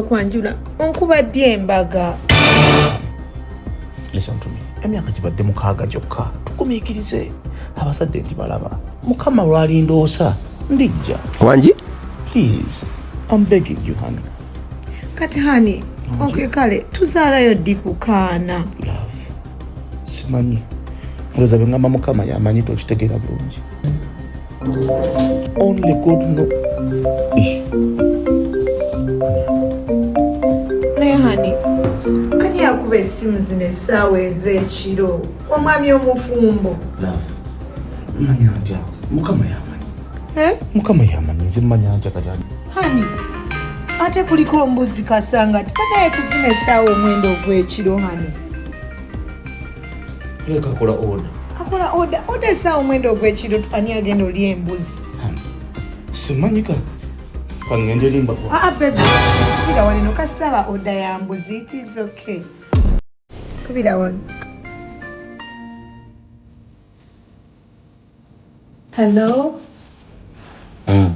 okwanjula onkuba ddi embaga emyaka gibadde mukaaga gyokka tugumiikirize abazadde nti balaba mukama lwalindoosa ndijja wangi please I'm begging you honey kati honey okay kale tuzaalayo ddi kukaana love simanyi olowooza bwe ngamba mukama yamanyi tokitegeera bulungi Only God know. Naye hani ani yakuba essimu zino essaawa ez'ekiro omwami omufumbo manya ntya mukama yamanyi eh? mukama yamanyi nze manya ntya kati hani ate kuliko mbuzi kasanga tikanaye kuzina essaawa omwenda ogw'ekiro hani leka akola oda akola oda oda esaawa omwenda ogwekiro ani agenda oli embuzi simanyika kangende limba ah, ah, kubira wano nokasaba oda ya mbuzi it is okay kubira wano Hello. Mm.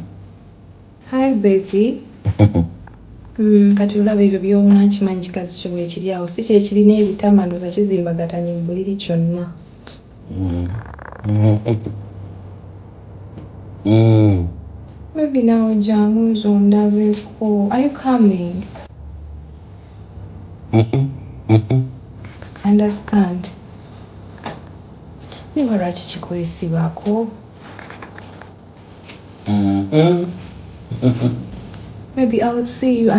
Hi baby. mm, kati olaba ebyo byona nkimanyi kikazi kyo bwekiri awo si kyekirina ebitama ndoza kizimbagatanye mu buliri kyonna. Mm. Mm. Mm. Baby nawe jangu nze ondabeko. Are you coming? Mm -mm. Mm -mm. Understand. Naye oba lwaki kikwesibako? Maybe I'll see you.